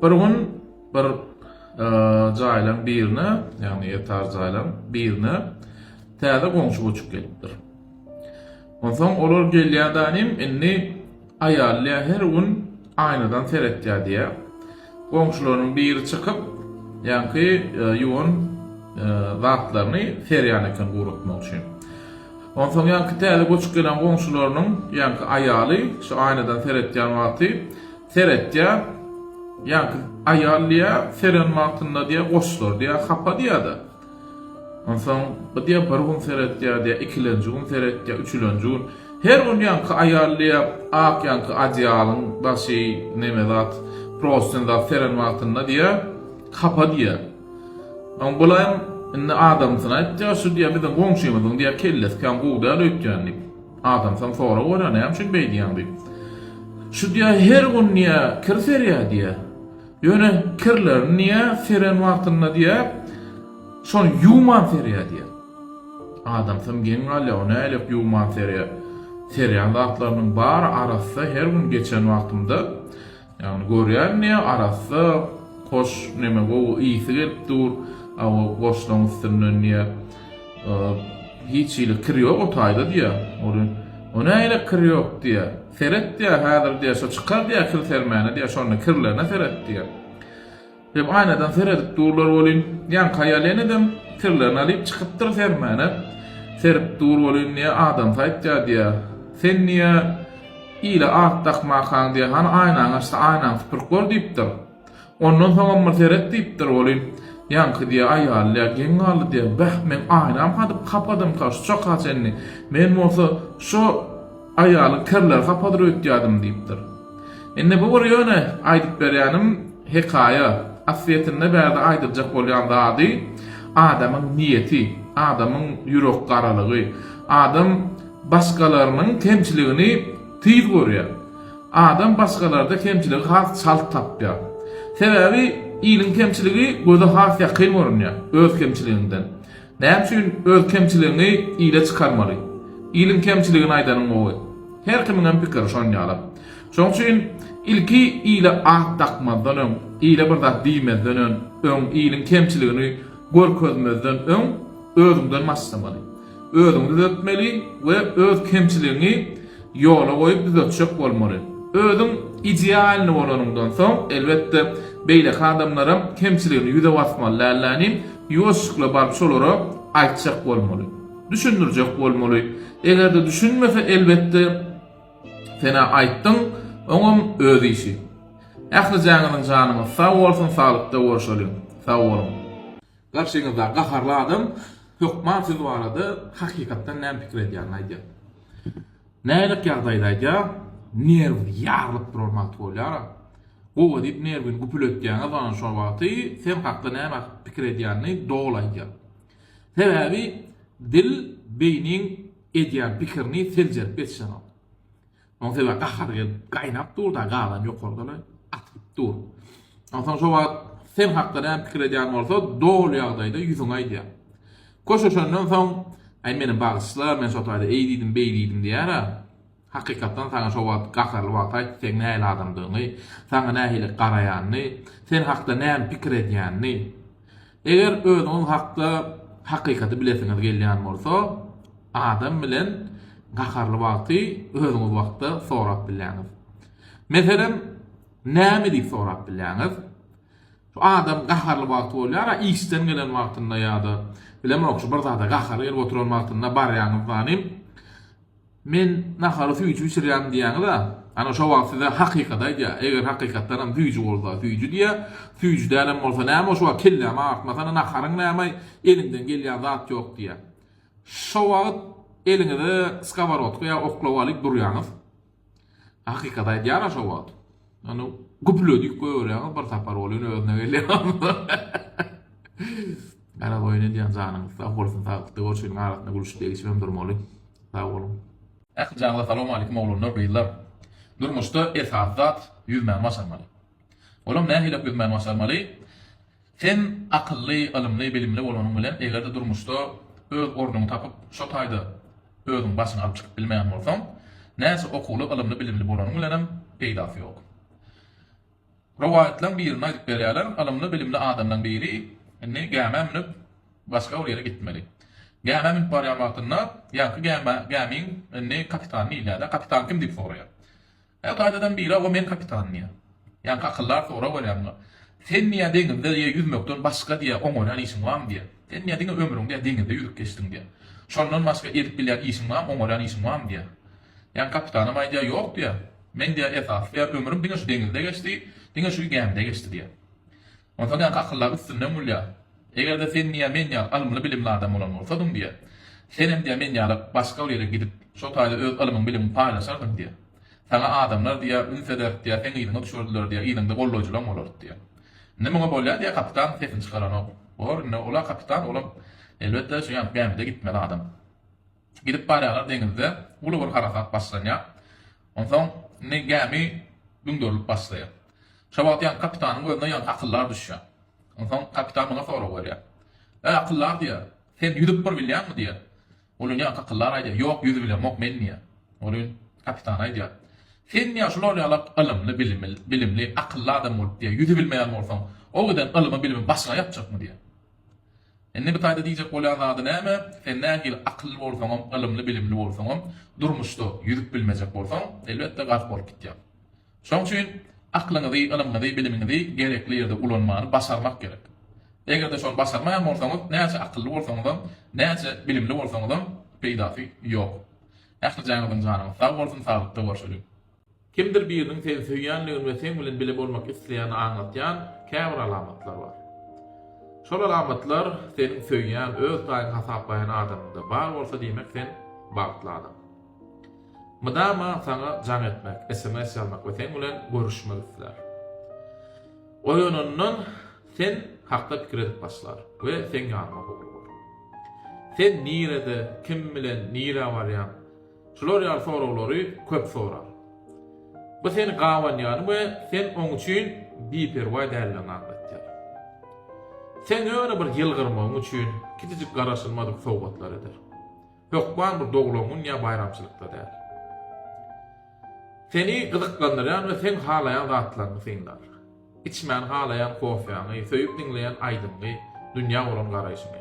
Bir gün bir jaýlaň birine, ýagny ýatar jaýlaň birine täze goňşy göçüp gelipdir. Onsoň olar gelýärdanim indi aýally her gün aýnadan seretýär diýýär. Goňşularynyň biri çykyp, ýaňky ýuwan zatlaryny serýän eken guratmak üçin. Onsoň ýaňky täze göçüp gelen goňşularynyň ýaňky aýaly şu aýnadan seretýän wagty Seretýär. Ýa-da aýal diýýär, Seren wagtynda diýýär, goşlar diýýär, hapa diýýär-de. Onsoň bu diýýär, bir gün seretýär diýýär, ikilenji gün seretýär, üçülenji gün. Her gün ýaňky aýal diýýär, ak ýaňky adeýalyň daşy, neme zat, prostyn zat seren wagtynda diýýär, hapa diýýär. Oň bulaýam indi adamsyny aýtýar, şu diýýär, biziň goňşymyzyň diýýär, kellesi kän gowy däl öýtýän diýip. Adamsan sora görä näme üçin beý diýýäň diýip. Şu diýä her gün diýä kir serýä diýä. Ýöne kirlerini diýä seren wagtynda diýä şony ýuwman serýä diýä. Adamsan geň galýa o nälik ýuwman serýä. Serýän zatlarynyň bary arassa her gün geçen wagtymda Ýagny görýän diýýä arassa goş neme gowy ysy gelip dur a o goşlaň üstünden diýýä hiç hili kir ýok o taýda diýýä ol o nähili kir ýok diýýä seret diýýä häzir diýýä şo çykar diýýä kir sermäne diýýä şonda kirlerine seret diýýä. Diýip, aýnadan seredip durlar welin, ýaňky aýal ýenedem tirlerini alyp çykypdyr sermäne. Serip dur welin, diýýär, adamsy aýtýar, diýýär. Sen, diýýär, ile at dakmakaň, diýýär, hany aýnaňy açsa, aýnaňy süpürip gör, diýipdir. Ondan soňam bir seret, diýipdir welin, ýaňky, diýýär, aýaly, diýýär, geň galdy, diýýär. Bäh, meň aýnam hadyp kapadymka şuça-ha çenli. Men bolsa şo. Aýaly kirleri hapadyr öýtýärdim diýipdir. Indi bu bir ýöne aýdyp berýänim hekaýa. Aslyýetinde bärde aýdyljak bolýan zady adamyň niýeti, adamyň ýürek garalygy. Adam başgalarynyň kemçiligini tiz görýär. Adam başgalarda kemçiligi has çalt tapýar. Sebäbi iliň kemçiligi göze has ýakyn görünýär öz kemçiliginden. Näme üçin öz kemçiligiňi ile çykarmaly? Iliň kemçiligini aýdanyň gowy. Her kimiňem pikiri şon ýala. Şoň üçin ilki ile at dakmazdan öň, ile bir zat diýmezden ön, öň, iliň kemçiligini görkezmezden öň özüňden başlamaly. Özüňi düzetmeli we öz kemçiligiňi ýola goýup düzetjek bolmaly. Özüň idealny bolanyňdan soň, elbetde, beýleki adamlaram kemçiligini ýüze basmaly dälläniň, ýuwaşjykly baryp şolara aýtjak bolmaly. Düşündirjek bolmaly. Eger-de düşünmese, elbetde, sen-ä aýtdyň, oňam öz işi. Ählijäňiziň janyňyz sag bolsun, saglykda görşeliň. Sag boluň. Garşyňyzdaky gaharly adam hökman siz barada hakykatdan näme pikir edýänini aýdýar. Nälik ýagdaýda aýdýar, nerw ýarylyp duran wagty bolýar. Gowa diýip nerwini güpületýäňiz onam şol wagty sen hakda näme pikir edýänini doly aýdýar. Sebäbi dil beýniň edýän pikirini seljerip geçişenok. Onsoňa gahary gelip gaýnap dur-da, galan ýokardan-a atylyp dur. Onsoň şo wagt sen hakda näme pikir edýän bolsa, doly ýagdaýda ýüzüňe aýdýar. Köşeşenden soň, Aý, meni bagyşla, men şo taýda eý diýdim, beý diýdim diýer-ä. Hakykatdan saňa şo wagt gaharly wagty aýtdy, seň nähili adamdygyňy, saňa nähili garaýanyny, sen hakda näme pikir edýänini. Eger özüňiz hakda hakykaty bilesiňiz gelýän bolsa, adam bilen gaharly wagty özüňiz wagtda sorap bilýäňiz. Meselem, näme diýip sorap bilýäňiz? Şu adam gaharly wagty bolýar-a, işden gelen wagtynda ýa-da bilemok, şu bir zada gahary gelip oturan wagtynda barýaňyz zanym, Men nahary süýji bişirýärin diýýäňiz-ä, ana şo wagt size hakykaty aýdýar, eger hakykatdanam süýji bolsa süýji diýýär, süýji dälem bolsa näme şu wagt kellämi agyrtmasana naharyň näme-aý, eliňden gelýän zat ýok diýýär. Şo wagt eliňize skoworodka ýa oklawalik durýaňyz. Hakykaty aýdýar-a şo wagt. Ony güpüledip goýberýäňiz bir sapar ol ýene özüne gelýär onsoň. Garaz oýun edýän janyňyz sag bolsun sagykda görşüniň arasynda gülüşip degişip hem durmaly. Sag boluň. Ähli janyňyza salowmalikim oglanlar gyzlar. Durmuşda esasy zat ýüzmäni başarmaly. Olam nähilek ýüzmäni başarmaly? Sen akylly, ylymly, bilimli bolanyň bilen, eger-de durmuşda öz ornuňy tapyp, şo taýda özüň başyňy alyp çykyp bilmeýän bolsaň, näçe okuwly, ylymly, bilimli bolanyň bilenem peýdasy ýok. Rowaýatlaň birinde aýdyp berýärler, ylymly, bilimli adamlaň biri indi gämä münüp, başga bir ýere gitmeli. Gämä münüp barýan wagtynda, ýaňky gämiň indi kapitany diýilýär-de, kapitan kim diýip soraýar. Hä, gaýtadan biri hawa men kapitan diýýär. Ýaňky akyldar sorag berýär muňa. Sen diýýär deňizde diýýär ýüzmekden başga diýýär oňarýan işiň barmy diýýär. Sen diýýär diňe ömrüň diýýär deňizde ýüzüp geçdiň diýýär. Şondan başga edip bilýän işiň barmy, oňarýan işiň barmy diýýär. Ýaňky kapitanam aýdýar, ýok diýýär. Meň diýýär esasy diýýär ömrüm diňe şu deňizde geçdi, diňe şu gämide geçdi diýýär. Onsoň ýaňky akyllar üstünden gülýär. Eger-de sen diýýär men ýaly ylymly-bilimli adam bolan bolsadyň diýýär, senem diýýär men ýaly başga bir ýere gidip, şo taýda öz ylymyň-bilimiň paýlaşardyň diýýär. Saňa adamlar diýýär üns ederdi diýýär, seň yzyňa düşerdiler diýýär, yzyňda gollaýjylaň bolardy diýýär. Indi muňa bolýar diýýär kapitan sesini çykaranok. Bor indi ol-a kapitan olam elbetde şu ýaňky gämide gitmeli adam. Gidip barýarlar deňizde uly bir harasat başlanýar. Onsoň indi gämi düňderilip başlaýar. Şo wagt ýaňky kapitanyň gözüne ýaňky akyldar düşýär. Onsoň kapitan muňa sorag berýär. Äý akyldar diýýär, sen ýüzüp bir bilýäňmi diýýär. Olin ýaňky akyldar aýdýar, ýok ýüzübilemok men diýýär. Olin kapitan aýdýar, sen diýýär şular ýalak ylymly bilimli bilimli akylly adam bolup diýýär ýüzübilmeýän bolsaň o giden ylymybilimiň başyňa ýapjakmy diýýär. Indi bu taýda diýjek bolýan zady näme? Sen nähili akylly bolsaňam, ylymly-bilimli bolsaňam, durmuşda ýüzüp bilmejek bolsaň, elbetde, gark bolup gitýäň. Şonuň üçin aklyňyzy, ylymyňyzy, bilimiňizi gerekli ýerde ulanmany başarmak gerek. Eger-de şony başarmaýan bolsaňyz, näçe akylly bolsaňyzam, näçe bilimli bolsaňyzam peýdasy ýok. Ähli jaýyňyzyň janyňyz sag bolsun, saglykda görşeliň! Kimdir biriniň seni söýýändigini we seň bilen bile bolmak isleýänini aňlatýan käbir alamatlar bar. Şol alamatlar seniň söýýän, öz paýyňy hasaplaýan adamyňda bar bolsa diýmek sen bagtly adam. Mydama saňa jaň etmek, sms ýazmak we seň bilen görüşmek islär. Oýanandan sen hakda pikir edip başlar we seň ýanyňa howlugýar. Sen nirede, kim bilen, nirä barýaň? Şular ýaly soraglary köp sorar. Bu seni gabanýany we sen oň üçin biperwaý däldigini aňlatýar. Sen ýöne bir ýylgyrmagyň üçin kiçijik garaşylmadyk sowgatlar eder. Hökman bir doglan gün ýa baýramçylykda däl. Seni gyzyklandyrýan we sen halaýan zatlaryňy synlar. Içmäni halaýan kofýaňy, söýüp diňleýän aýdymyňy, dünýä bolan garaýşyňy.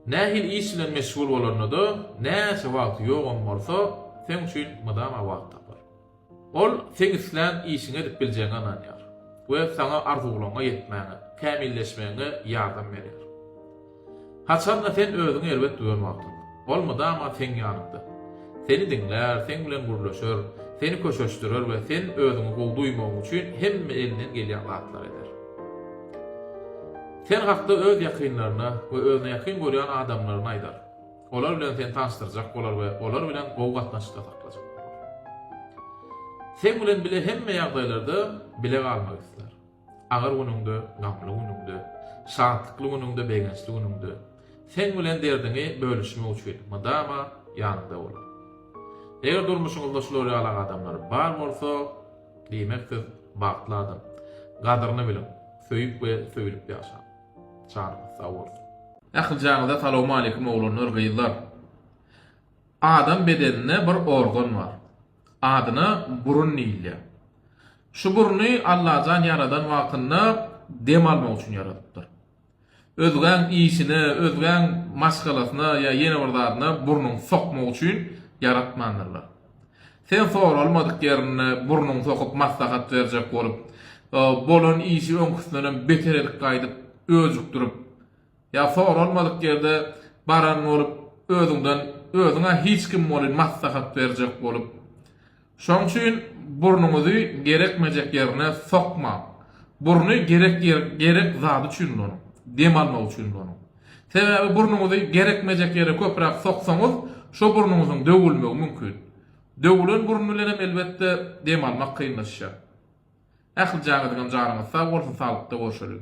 Nähili iş bilen meşgul bolanda-da, näçe wagty ýogam bolsa, seň üçin mydama wagt tapar. Ol seň islän işiňi edip biljegiňe ynanýar we saňa arzuwlaryňa ýetmäňe, kämilleşmegiňe ýardam berýär. Haçan-da sen özüňi erbet duýan wagtyň, ol mydama seň ýanyňda. Seni diňlär, seň bilen gürleşer, seni köşeşdirer we sen özüňi gowy duýmagyň üçin hemme elinden gelýän zatlary eder. Sen hakda öz ýakynlaryna we özüne ýakyn görýän adamlaryna aýdar. Olar bilen seni tanyşdyrjak bolar we olar bilen gowy gatnaşykda saklajak bolar. Seň bilen bile hemme ýagdaýlarda bile galmak isler. Agyr günüňde, gamly günüňde, şatlykly günüňde, begençli günüňde, seň bilen derdiňi bölüşmek üçin mydama ýanyňda bolar. Eger durmuşyňyzda şular ýaly adamlar bar bolsa, diýmek siz bagtly adam. Gadyryny biliň. Söýüp we söýülip ýaşaň. Janyňyz sag bolsun. Ählijaňyza salowmaleýkim oglanlar gyzlar. Adam bedeninde bir organ bar. Adyna burun diýilýär. Şu burny Allajan ýaradan wagtynda dem almak üçin ýaradypdyr. Özgäň işine, özgäň maşgalasyna ýa ýene bir zadyna burnuňy sokmak üçin ýaratmandyrlar. Sen soralmadyk ýerinde burnuňy sokup maslahat berjek bolup, bolan işi öňküsindenem beter edip gaýdyp öjükdirip, ýa soralmadyk ýerde baran bolup özüňden özüň-ä hiç kim welin maslahat berjek bolup, Şoň üçin burnuňyzy gerekmejek ýerine sokmaň. Burny gerek gerek zady üçin ulanyň. Dem almak üçin ulanyň. Sebäbi burnuňyzy gerekmejek ýere köpräk soksaňyz, şo burnuňyzyň döwülmegi mümkin. Döwülen burun bilenem elbetde dem almak kynlaşýar. Ähli janyňyzam janyňyz sag bolsun saglykda görşeliň.